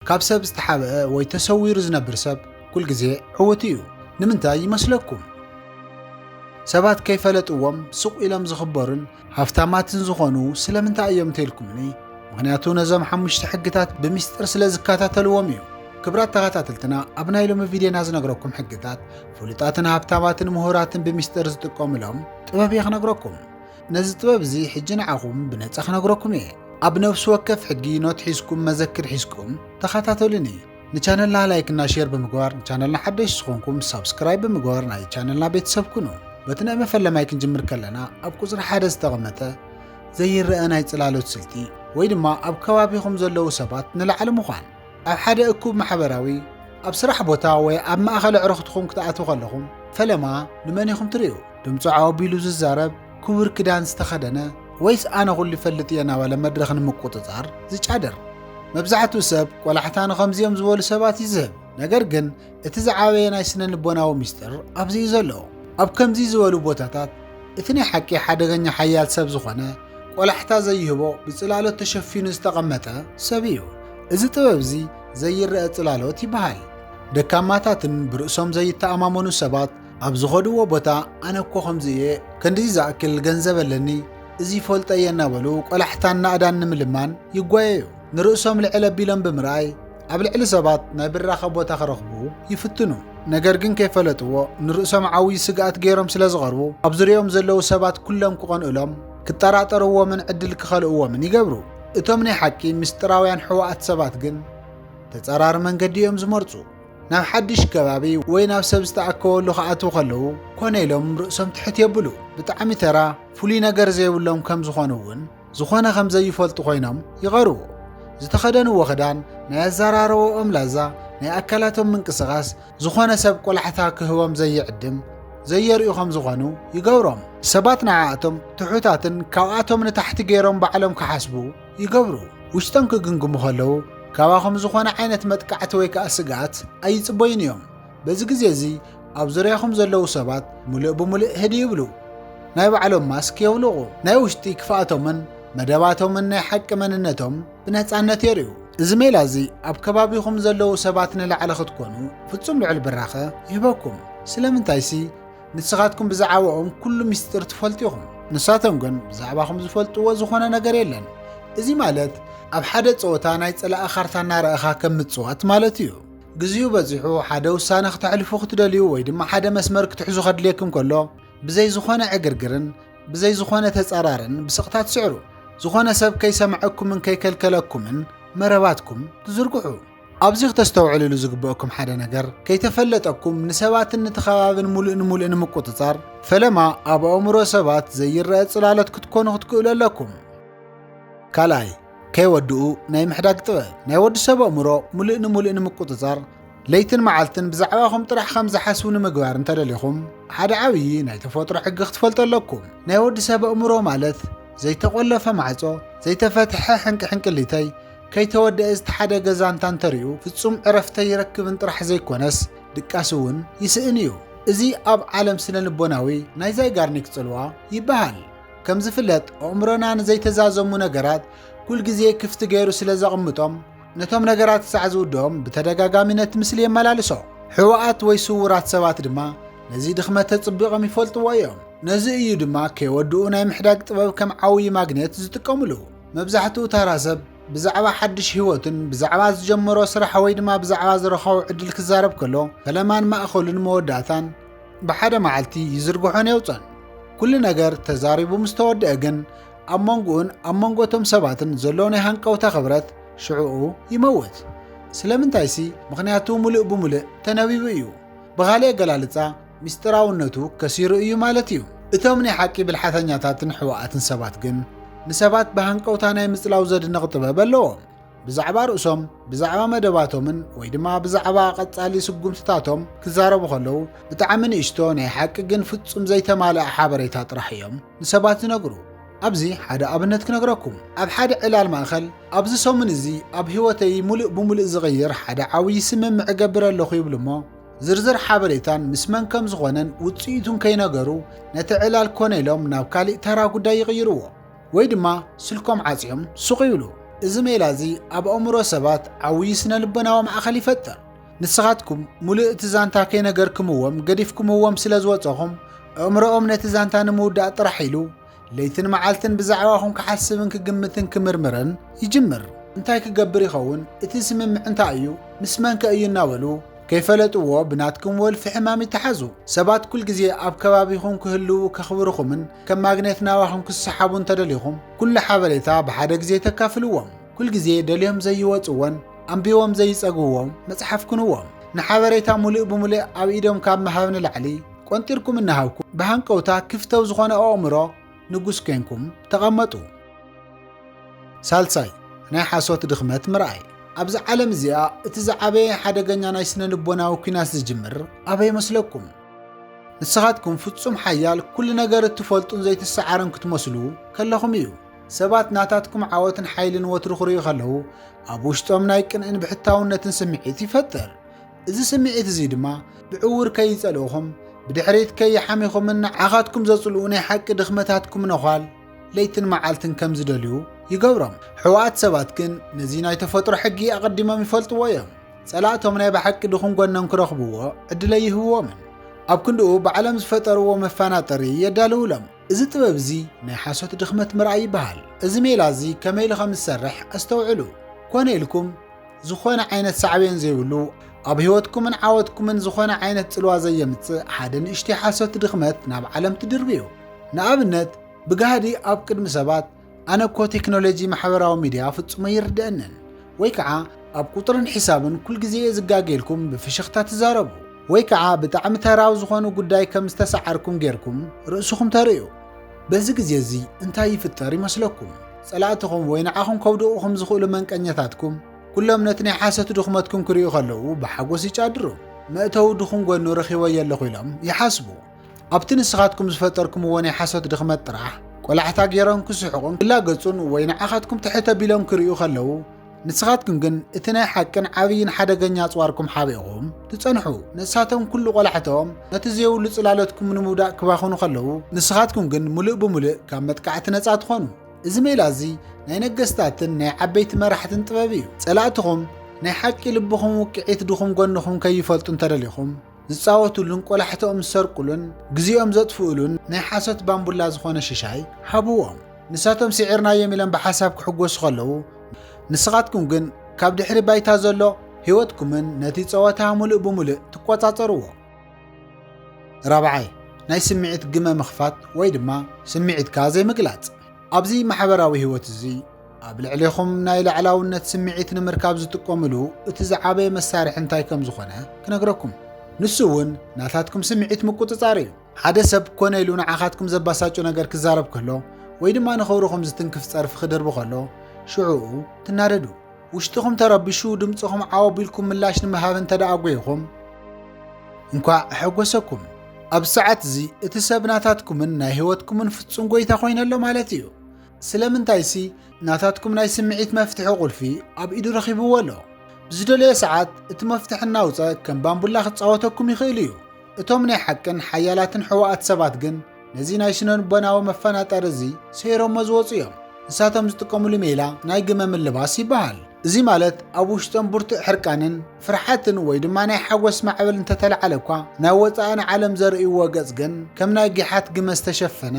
ካብ ሰብ ዝተሓብአ ወይ ተሰዊሩ ዝነብር ሰብ ኩልግዜ ዕዉት እዩ። ንምንታይ ይመስለኩም? ሰባት ከይፈለጥዎም ስቕ ኢሎም ዝኽበሩን ሃፍታማትን ዝኾኑ ስለምንታይ እዮም እንተኢልኩምኒ፣ ምኽንያቱ ነዞም ሓሙሽተ ሕግታት ብምስጢር ስለ ዝከታተልዎም እዩ። ክብራት ተኸታተልትና ኣብ ናይ ሎሚ ቪድዮና ዝነግረኩም ሕግታት ፍሉጣትን ሃብታማትን ምሁራትን ብምስጢር ዝጥቀሙሎም ጥበብ እየ ክነግረኩም። ነዚ ጥበብ እዚ ሕጂ ንዓኹም ብነጻ ክነግረኩም እየ። ኣብ ነፍሲ ወከፍ ሕጊ ኖት ሒዝኩም መዘክር ሒዝኩም ተኸታተሉኒ። ንቻነልና ላይክ እና ሼር ብምግባር ንቻነልና ሓደሽ ዝኾንኩም ሳብስክራይብ ብምግባር ናይ ቻነልና ቤተሰብ ኩኑ። በቲ ናይ መፈለማይ ክንጅምር ከለና ኣብ ቁጽሪ ሓደ ዝተቐመጠ ዘይረኣ ናይ ጽላሎት ስልቲ ወይ ድማ ኣብ ከባቢኹም ዘለዉ ሰባት ንላዕሊ ምዃን ኣብ ሓደ እኩብ ማሕበራዊ ኣብ ስራሕ ቦታ ወይ ኣብ ማእኸል ኣዕሩኽትኹም ክትኣትዉ ከለኹም ፈለማ ንመን ኢኹም ትርእዩ? ድምፁ ዓው ኣቢሉ ዝዛረብ፣ ክቡር ክዳን ዝተኸደነ ወይስ ኣነ ኩሉ ይፈልጥ እየ እናበለ መድረኽ ንምቁፅፃር ዝጫደር? መብዛሕትኡ ሰብ ቆላሕታ ንኸምዚኦም ዝበሉ ሰባት እዩ ዝህብ። ነገር ግን እቲ ዝዓበየ ናይ ስነ ልቦናዊ ምስጢር ኣብዚ እዩ ዘሎ። ኣብ ከምዚ ዝበሉ ቦታታት እቲ ናይ ሓቂ ሓደገኛ ሓያል ሰብ ዝኾነ ቆላሕታ ዘይህቦ ብጽላሎት ተሸፊኑ ዝተቐመጠ ሰብ እዩ። እዚ ጥበብ እዚ ዘይረአ ጽላሎት ይበሃል። ደካማታትን ብርእሶም ዘይተኣማመኑ ሰባት ኣብ ዝኸድዎ ቦታ ኣነ እኮ ከምዚ እየ ክንድዚ ዝኣክል ገንዘብ ኣለኒ እዚ ይፈልጦ እየ እናበሉ ቆላሕታን ናእዳን ንምልማን ይጓየዩ ንርእሶም ልዕል ኣቢሎም ብምርኣይ ኣብ ልዕሊ ሰባት ናይ ብራኸ ቦታ ክረኽቡ ይፍትኑ፣ ነገር ግን ከይፈለጥዎ ንርእሶም ዓብዪ ስግኣት ገይሮም ስለ ዝቐርቡ ኣብ ዙርያኦም ዘለዉ ሰባት ኩሎም ክቐንእሎም፣ ክጠራጠርዎምን ዕድል ክኸልእዎምን ይገብሩ። እቶም ናይ ሓቂ ምስጢራውያን ሕዋኣት ሰባት ግን ተጻራሪ መንገዲ እዮም ዝመርጹ። ናብ ሓድሽ ከባቢ ወይ ናብ ሰብ ዝተኣከበሉ ክኣትዉ ከለዉ ኮነ ኢሎም ርእሶም ትሕት የብሉ። ብጣዕሚ ተራ ፍሉይ ነገር ዘይብሎም ከም ዝኾኑ እውን ዝኾነ ከም ዘይፈልጡ ኮይኖም ይቐርቡ። ዝተኸደንዎ ክዳን፣ ናይ ኣዘራርባኦም ላዛ፣ ናይ ኣካላቶም ምንቅስቓስ ዝኾነ ሰብ ቆላሕታ ክህቦም ዘይዕድም ዘየርእዩ ከም ዝኾኑ ይገብሮም። ሰባት ንዓኣቶም ትሑታትን ካብኣቶም ንታሕቲ ገይሮም ባዕሎም ክሓስቡ ይገብሩ። ውሽጦም ክግምግሙ ከለዉ ካባኹም ዝኾነ ዓይነት መጥቃዕቲ ወይ ከዓ ስግኣት ኣይጽበዩን እዮም። በዚ ግዜ እዚ ኣብ ዙርያኹም ዘለዉ ሰባት ምሉእ ብምሉእ ህድእ ይብሉ፣ ናይ ባዕሎም ማስክ የውልቑ፣ ናይ ውሽጢ ክፍኣቶምን መደባቶምን ናይ ሓቂ መንነቶም ብነጻነት የርእዩ። እዚ ሜላ እዚ ኣብ ከባቢኹም ዘለዉ ሰባት ንላዕሊ ክትኰኑ ፍጹም ልዑል ብራኸ ይህበኩም፣ ስለምንታይሲ ንስኻትኩም ብዛዕባኦም ኵሉ ምስጢር ትፈልጡ ኢኹም፣ ንሳቶም ግን ብዛዕባኹም ዝፈልጥዎ ዝዀነ ነገር የለን። እዚ ማለት ኣብ ሓደ ጸወታ ናይ ጸላኢ ካርታ እናረኣኻ ከም ምጽዋት ማለት እዩ። ግዚኡ በጺሑ ሓደ ውሳነ ክተሕልፉ ክትደልዩ ወይ ድማ ሓደ መስመር ክትሕዙ ከድልየኩም ከሎ ብዘይ ዝኾነ ዕግርግርን ብዘይ ዝኾነ ተጸራርን ብስቕታ ትስዕሩ ዝኾነ ሰብ ከይሰምዐኩምን ከይከልከለኩምን መረባትኩም ትዝርግሑ ኣብዚ ክተስተውዕልሉ ዝግበአኩም ሓደ ነገር ከይተፈለጠኩም ንሰባትን ንተኸባብን ሙሉእ ንሙሉእ ንምቁፅፃር ፈለማ ኣብ ኣእምሮ ሰባት ዘይረአ ፅላሎት ክትኮኑ ክትክእሉ ኣለኩም ካልኣይ ከይወድኡ ናይ ምሕዳግ ጥበብ ናይ ወዲ ሰብ ኣእምሮ ሙሉእ ንሙሉእ ንምቁፅፃር ለይትን መዓልትን ብዛዕባኹም ጥራሕ ከም ዝሓስቡ ንምግባር እንተደሊኹም ሓደ ዓብዪ ናይ ተፈጥሮ ሕጊ ክትፈልጡ ኣለኩም ናይ ወዲ ሰብ ኣእምሮ ማለት ዘይተቆለፈ ማዕጾ ዘይተፈትሐ ሕንቂ ሕንቅሊተይ ከይተወደአ ዝተሓደገ ዛንታ እንተሪኡ ፍጹም ዕረፍተ ይረክብን ጥራሕ ዘይኮነስ ድቃስ እውን ይስእን እዩ እዚ ኣብ ዓለም ስነ ልቦናዊ ናይ ዛይጋርኒክ ጽልዋ ይበሃል ከም ዝፍለጥ ኣእምሮና ንዘይተዛዘሙ ነገራት ኩል ግዜ ክፍቲ ገይሩ ስለ ዘቕምጦም ነቶም ነገራት ክሳዕ ዝውድኦም ብተደጋጋሚ ነቲ ምስሊ የመላልሶ። ሕወኣት ወይ ስውራት ሰባት ድማ ነዚ ድኽመት ተጽቢቖም ይፈልጥዎ እዮም። ነዚ እዩ ድማ ከይወድኡ ናይ ምሕዳግ ጥበብ ከም ዓውዪ ማግኔት ዝጥቀምሉ። መብዛሕትኡ ታራ ሰብ ብዛዕባ ሓድሽ ህይወቱን ብዛዕባ ዝጀመሮ ስራሕ ወይ ድማ ብዛዕባ ዝረኸቦ ዕድል ክዛረብ ከሎ ፈለማን ማእኸሉን መወዳእታን ብሓደ መዓልቲ ይዝርግሖን የውፅኦን። ኩሉ ነገር ተዛሪቡ ምስ ተወድአ ግን ኣብ መንጎኡን ኣብ መንጎ እቶም ሰባትን ዘሎ ናይ ሃንቀውታ ክብረት ሽዕኡ ይመውት። ስለምንታይሲ ምኽንያቱ ሙሉእ ብሙሉእ ተነቢቡ እዩ። ብኻሊእ ኣገላልፃ ሚስጢራውነቱ ከሲሩ እዩ ማለት እዩ። እቶም ናይ ሓቂ ብልሓተኛታትን ሕወኣትን ሰባት ግን ንሰባት ብሃንቀውታ ናይ ምፅላው ዘድንቕ ጥበብ ኣለዎም። ብዛዕባ ርእሶም፣ ብዛዕባ መደባቶምን ወይ ድማ ብዛዕባ ቀጻሊ ስጉምትታቶም ክዛረቡ ከለዉ፣ ብጣዕሚ ንእሽቶ ናይ ሓቂ ግን ፍጹም ዘይተማልኣ ሓበሬታ ጥራሕ እዮም ንሰባት ዝነግሩ። ኣብዚ ሓደ ኣብነት ክነግረኩም። ኣብ ሓደ ዕላል ማእከል፣ ኣብዚ ሰሙን እዚ ኣብ ህይወተይ ምሉእ ብምሉእ ዝቕይር ሓደ ዓብዪ ስምምዕ እገብር ኣለኹ ይብሉ እሞ፣ ዝርዝር ሓበሬታን ምስ መን ከም ዝኾነን ውጽኢቱን ከይነገሩ ነቲ ዕላል ኮነ ኢሎም ናብ ካሊእ ተራ ጉዳይ ይቕይርዎ። ወይ ድማ ስልኮም ዓጽዮም ሱቕ ይብሉ። እዚ ሜላ እዚ ኣብ ኣእምሮ ሰባት ዓብዪ ስነ-ልቦናዊ ማእከል ይፈጥር። ንስኻትኩም ምሉእ እቲ ዛንታ ከይነገርክምዎም ገዲፍኩምዎም ስለ ዝወጸኹም፣ ኣእምሮኦም ነቲ ዛንታ ንምውዳእ ጥራሕ ኢሉ ለይትን መዓልትን ብዛዕባኹም ክሓስብን ክግምትን ክምርምርን ይጅምር። እንታይ ክገብር ይኸውን? እቲ ስምምዕ እንታይ እዩ? ምስ መንከ እዩ? እናበሉ ከይፈለጥዎ ብናትኩም ወልፊ ሕማም ይተሓዙ። ሰባት ኩል ግዜ ኣብ ከባቢኹም ክህልዉ ከኽብርኹምን ከም ማግኔት ናባኹም ክሰሓቡ እንተደሊኹም ኩሉ ሓበሬታ ብሓደ ግዜ ተካፍልዎም። ኩል ግዜ ደልዮም ዘይወጽዎን ኣንቢቦም ዘይጸግብዎም መጽሓፍ ኩንዎም። ንሓበሬታ ሙሉእ ብሙሉእ ኣብ ኢዶም ካብ ምሃብ ንላዕሊ ቆንጢርኩም እናሃብኩም ብሃንቀውታ ክፍተው ዝኾነ ኣእምሮ ንጉስ ኴንኩም ተቐመጡ። ሳልሳይ፣ ናይ ሓሶት ድኽመት ምርኣይ። ኣብዛ ዓለም እዚኣ እቲ ዝዓበየ ሓደገኛ ናይ ስነ ልቦናዊ ኲናት ዝጅምር ኣበይ መስለኩም? ንስኻትኩም ፍጹም ሓያል ኩሉ ነገር እትፈልጡን ዘይትሰዓሩን ክትመስሉ ከለኹም እዩ። ሰባት ናታትኩም ዓወትን ሓይልን ወትሩ ክርእዩ ከለዉ ኣብ ውሽጦም ናይ ቅንእን ብሕታውነትን ስምዒት ይፈጥር። እዚ ስምዒት እዚ ድማ ብዕዉር ከይጸልኡኹም ብድሕሪት ከይሓሚኹምን ንዓኻትኩም ዘጽልኡ ናይ ሓቂ ድኽመታትኩም ነዃል ለይትን መዓልትን ከም ዝደልዩ ይገብሮም። ሕዋኣት ሰባት ግን ነዚ ናይ ተፈጥሮ ሕጊ ኣቐዲሞም ይፈልጥዎ እዮም። ጸላእቶም ናይ ብሓቂ ድኹም ጎኖም ክረኽብዎ ዕድል ኣይህብዎምን። ኣብ ክንድኡ ባዕሎም ዝፈጠርዎ መፋናጠሪ የዳልውሎም። እዚ ጥበብ እዚ ናይ ሓሶት ድኽመት ምርኣይ ይበሃል። እዚ ሜላ እዚ ከመይ ኢሉ ከም ዝሰርሕ ኣስተውዕሉ። ኮነ ኢልኩም ዝኾነ ዓይነት ሳዕቤን ዘይብሉ ኣብ ህይወትኩምን ዓወትኩምን ዝኾነ ዓይነት ጽልዋ ዘየምጽእ ሓደ ንእሽተይ ሓሶት ድኽመት ናብ ዓለም ትድርብዩ። ንኣብነት ብጋህዲ ኣብ ቅድሚ ሰባት ኣነ እኮ ቴክኖሎጂ ማሕበራዊ ሚድያ ፍጹም ኣይርድአንን ወይ ከዓ ኣብ ቁፅርን ሒሳብን ኩል ግዜ እየ ዝጋገ ኢልኩም ብፍሽኽታ ትዛረቡ ወይ ከዓ ብጣዕሚ ተራዊ ዝኾኑ ጉዳይ ከም ዝተሰዓርኩም ጌርኩም ርእስኹም ተርእዩ በዚ ግዜ እዚ እንታይ ይፍጠር ይመስለኩም ጸላእትኹም ወይ ንዓኹም ከውድቑኹም ዝኽእሉ መንቀኘታትኩም ኩሎም ነቲ ናይ ሓሶት ድኽመትኩም ክርእዩ ከለዉ ብሓጎስ ይጫድሩ መእተዊ ድኹም ጎኑ ረኺቦ የለኹ ኢሎም ይሓስቡ ኣብቲ ንስኻትኩም ዝፈጠርኩምዎ ናይ ሓሶት ድኽመት ጥራሕ ቆላሕታ ገይሮም ክስሕቑን ክላገጹን ወይ ንዓኻትኩም ትሕት ኣቢሎም ክርእዩ ከለዉ ንስኻትኩም ግን እቲ ናይ ሓቅን ዓብይን ሓደገኛ ኣጽዋርኩም ሓቢእኹም ትጸንሑ ንሳቶም ኩሉ ቆላሕተኦም ነቲ ዘይብሉ ጽላለትኩም ንምውዳእ ክባኽኑ ከለዉ ንስኻትኩም ግን ምሉእ ብምሉእ ካብ መጥቃዕቲ ነጻ ትኾኑ እዚ ሜላ እዚ ናይ ነገስታትን ናይ ዓበይቲ መራሕትን ጥበብ እዩ ጸላእትኹም ናይ ሓቂ ልብኹም ውቅዒት ድኹም ጎንኹም ከይፈልጡ እንተደሊኹም ዝጻወቱሉን ቆላሕትኦም ዝሰርቁሉን ግዜኦም ዘጥፍኡሉን ናይ ሓሶት ባምቡላ ዝኾነ ሽሻይ ሃብዎም። ንሳቶም ስዒርናዮም ኢሎም ብሓሳብ ክሕጎሱ ከለዉ፣ ንስኻትኩም ግን ካብ ድሕሪ ባይታ ዘሎ ህይወትኩምን ነቲ ጸወታ ምሉእ ብምሉእ ትቆጻጸርዎ። ራብዓይ፣ ናይ ስምዒት ግመ ምኽፋት ወይ ድማ ስምዒትካ ዘይምግላጽ። ኣብዚ ማሕበራዊ ህይወት እዚ ኣብ ልዕሌኹም ናይ ላዕላውነት ስምዒት ንምርካብ ዝጥቀምሉ እቲ ዝዓበየ መሳርሒ እንታይ ከም ዝኾነ ክነግረኩም። ንሱ እውን ናታትኩም ስምዒት ምቁጽጻር እዩ። ሓደ ሰብ ኮነ ኢሉ ንዓኻትኩም ዘባሳጩ ነገር ክዛረብ ከሎ ወይ ድማ ንኽብርኹም ዝትንክፍ ጸርፊ ክድርቢ ከሎ ሽዑኡ ትናደዱ። ውሽጥኹም ተረቢሹ ድምፅኹም ዓው ኣቢልኩም ምላሽ ንምሃብ እንተ ደኣ ጒይኹም እንኳዕ ኣሐጎሰኩም። ኣብ ሰዓት እዚ እቲ ሰብ ናታትኩምን ናይ ህይወትኩምን ፍጹም ጎይታ ኮይነ ኣሎ ማለት እዩ። ስለምንታይሲ ናታትኩም ናይ ስምዒት መፍትሒ ቁልፊ ኣብ ኢዱ ረኺብዎ ኣሎ። ብዝደለዮ ሰዓት እቲ መፍትሒ እናውፀ ከም ባምቡላ ክፃወተኩም ይኽእል እዩ። እቶም ናይ ሓቅን ሓያላትን ሕወኣት ሰባት ግን ነዚ ናይ ስነልቦናዊ መፈናጠሪ እዚ ሰይሮሞ ዝወፁ እዮም። ንሳቶም ዝጥቀምሉ ሜላ ናይ ግመ ምልባስ ይበሃል። እዚ ማለት ኣብ ውሽጦም ብርቱዕ ሕርቃንን ፍርሓትን ወይ ድማ ናይ ሓጎስ ማዕበል እንተተለዓለ እኳ ናይ ወፃእን ዓለም ዘርእይዎ ገፅ ግን ከም ናይ ጊሓት ግመ ዝተሸፈነ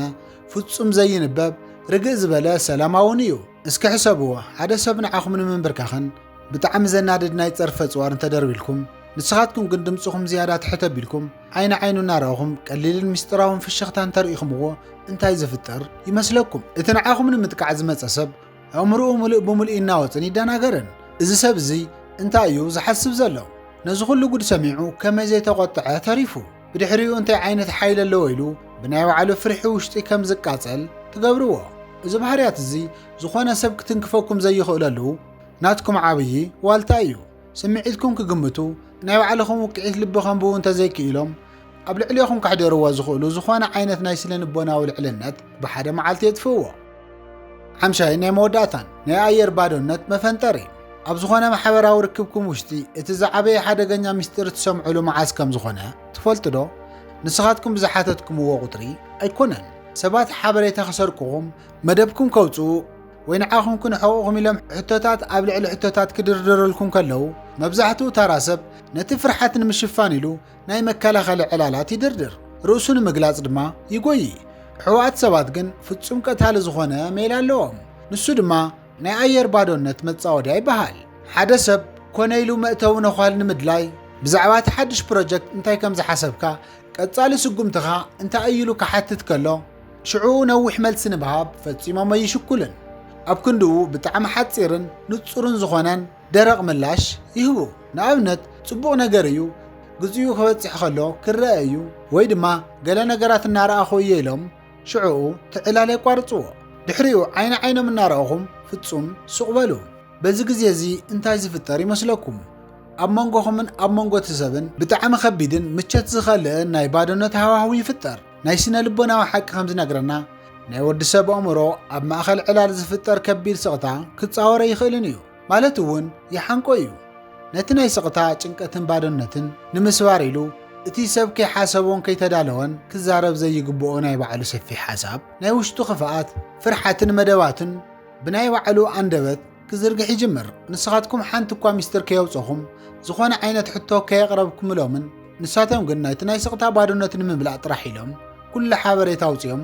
ፍጹም ዘይንበብ ርግእ ዝበለ ሰላማውን እዩ። እስኪ ሕሰብዎ፣ ሓደ ሰብ ንዓኹም ንምንብርካኽን ብጣዕሚ ዘናድድ ናይ ጸርፊ ኣጽዋር እንተደርቢልኩም ንስኻትኩም ግን ድምፅኹም ዝያዳ ትሕት ኣቢልኩም ዓይኒ ዓይኑ እናረኣኹም ቀሊልን ምስጢራውን ፍሽኽታ እንተርኢኹምዎ እንታይ ዝፍጠር ይመስለኩም? እቲ ንዓኹም ንምጥቃዕ ዝመፀ ሰብ ኣእምሮኡ ምሉእ ብምሉእ ይናወፅን ይደናገርን። እዚ ሰብ እዚ እንታይ እዩ ዝሓስብ ዘሎ? ነዚ ኩሉ ጉድ ሰሚዑ ከመይ ዘይተቖጥዐ ተሪፉ? ብድሕሪኡ እንታይ ዓይነት ሓይሊ ኣለዎ ኢሉ ብናይ ባዕሉ ፍርሒ ውሽጢ ከም ዝቃጸል ትገብርዎ። እዚ ባህርያት እዚ ዝኾነ ሰብ ክትንክፈኩም ዘይኽእለሉ ናትኩም ዓብዪ ዋልታ እዩ። ስምዒትኩም ክግምቱ ናይ ባዕልኹም ውቅዒት ልቢ ከንብቡ እንተዘይክኢሎም ኣብ ልዕሌኹም ከሕደርዎ ዝኽእሉ ዝኾነ ዓይነት ናይ ስነ ልቦናዊ ልዕልነት ብሓደ መዓልቲ የጥፍእዎ። ሓምሻይ ናይ መወዳእታን ናይ ኣየር ባዶነት መፈንጠር እዩ ኣብ ዝኾነ ማሕበራዊ ርክብኩም ውሽጢ እቲ ዝዓበየ ሓደገኛ ምስጢር እትሰምዑሉ መዓዝ ከም ዝኾነ ትፈልጡ ዶ ንስኻትኩም ብዝሓተትኩምዎ ቁጥሪ ኣይኮነን ሰባት ሓበሬታ ክሰርቅኹም መደብኩም ከውፅኡ ወይ ንዓኹም ክንሕቑኹም ኢሎም ሕቶታት ኣብ ልዕሊ ሕቶታት ክድርድረልኩም ከለዉ መብዛሕትኡ ታራ ሰብ ነቲ ፍርሓት ንምሽፋን ኢሉ ናይ መከላኸሊ ዕላላት ይድርድር፣ ርእሱ ንምግላጽ ድማ ይጎዪ። ሕወኣት ሰባት ግን ፍጹም ቀታሊ ዝኾነ ሜላ ኣለዎም። ንሱ ድማ ናይ ኣየር ባዶነት መጻወድያ ይበሃል። ሓደ ሰብ ኮነ ኢሉ መእተዊ ነዃል ንምድላይ ብዛዕባ እቲ ሓድሽ ፕሮጀክት እንታይ ከም ዝሓሰብካ፣ ቀጻሊ ስጉምትኻ እንታይ እዩ ኢሉ ክሓትት ከሎ፣ ሽዑ ነዊሕ መልሲ ንምሃብ ፈጺሞም ኣይሽኩልን። ኣብ ክንድኡ ብጣዕሚ ሓጺርን ንጹርን ዝኾነን፣ ደረቕ ምላሽ ይህቡ። ንኣብነት፣ ጽቡቕ ነገር እዩ፣ ግዜኡ ክበጽሕ ከሎ ክረኣ እዩ፣ ወይ ድማ ገለ ነገራት እናረኣኹ እየ ኢሎም ሽዕኡ ትዕላል የቋርጽዎ። ድሕሪኡ ዓይኒ ዓይኖም እናረኣኹም ፍጹም ሱቕ በሉ። በዚ ግዜ እዚ እንታይ ዝፍጠር ይመስለኩም? ኣብ መንጎኹምን ኣብ መንጎ እቲ ሰብን ብጣዕሚ ከቢድን ምቸት ዝኸልእን ናይ ባዶነት ሃዋህው ይፍጠር። ናይ ስነ ልቦናዊ ሓቂ ከም ዝነግረና ናይ ወዲ ሰብ ኣእምሮ ኣብ ማእኸል ዕላል ዝፍጠር ከቢድ ስቕታ ክፃወረ ይኽእልን እዩ ማለት እውን ይሓንቆ እዩ ነቲ ናይ ስቕታ ጭንቀትን ባዶነትን ንምስባር ኢሉ እቲ ሰብ ከይሓሰቦን ከይተዳለወን ክዛረብ ዘይግብኦ ናይ ባዕሉ ሰፊሕ ሓሳብ ናይ ውሽጡ ክፍኣት ፍርሓትን መደባትን ብናይ ባዕሉ ኣንደበት ክዝርግሕ ይጅምር። ንስኻትኩም ሓንቲ እኳ ምስጢር ከየውጸኹም፣ ዝኾነ ዓይነት ሕቶ ከየቕረብኩምሎምን፣ ንሳቶም ግን ናይቲ ናይ ስቕታ ባዶነት ንምምላእ ጥራሕ ኢሎም ኩሉ ሓበሬታ ኣውጺኦም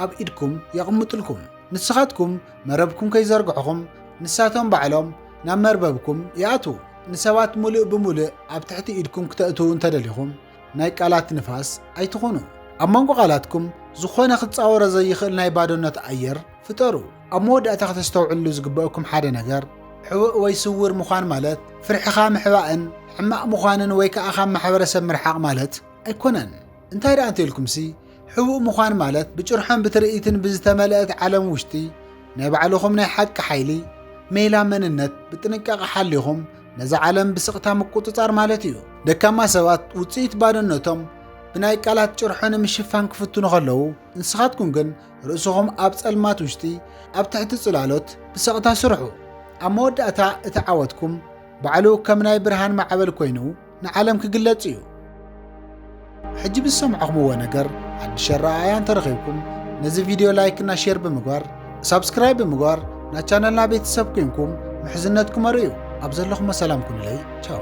ኣብ ኢድኩም የቕምጡልኩም። ንስኻትኩም መረብኩም ከይዘርግሕኹም ንሳቶም ባዕሎም ናብ መርበብኩም ይኣትዉ። ንሰባት ሙሉእ ብሙሉእ ኣብ ትሕቲ ኢድኩም ክተእትዉ እንተደሊኹም ናይ ቃላት ንፋስ ኣይትኹኑ። ኣብ መንጎ ቃላትኩም ዝኾነ ክጻወሮ ዘይኽእል ናይ ባዶነት ኣየር ፍጠሩ። ኣብ መወዳእታ ከተስተውዕልሉ ዝግበእኩም ሓደ ነገር፣ ሕቡእ ወይ ስውር ምዃን ማለት ፍርሕኻ ምሕባእን ሕማቕ ምዃንን ወይ ከኣ ካብ ማሕበረሰብ ምርሓቕ ማለት ኣይኮነን። እንታይ ደኣ እንተኢልኩምሲ፣ ሕቡእ ምዃን ማለት ብጭርሖን ብትርኢትን ብዝተመልአት ዓለም ውሽጢ ናይ ባዕልኹም ናይ ሓቂ ሓይሊ፣ ሜላ መንነት፣ ብጥንቃቐ ሓሊኹም ነዛ ዓለም ብስቕታ ምቁጽጻር ማለት እዩ። ደካማ ሰባት ውጽኢት ባዶነቶም ብናይ ቃላት ጭርሖ ንምሽፋን ክፍትኑ ከለዉ፣ ንስኻትኩም ግን ርእስኹም ኣብ ጸልማት ውሽጢ ኣብ ትሕቲ ጽላሎት ብሰቕታ ስርሑ ኣብ መወዳእታ እቲ ዓወትኩም ባዕሉ ከም ናይ ብርሃን ማዕበል ኮይኑ ንዓለም ክግለጽ እዩ ሕጂ ብዝሰምዕኹምዎ ነገር ሓድሽ ኣረኣእያ እንተረኺብኩም ነዚ ቪድዮ ላይክ እና ሼር ብምግባር ሳብስክራይብ ብምግባር ናብ ቻነልና ቤተሰብ ኮንኩም ምሕዝነትኩም ኣርእዩ ኣብ ዘለኹሞ ሰላም ኩኑለይ ቻው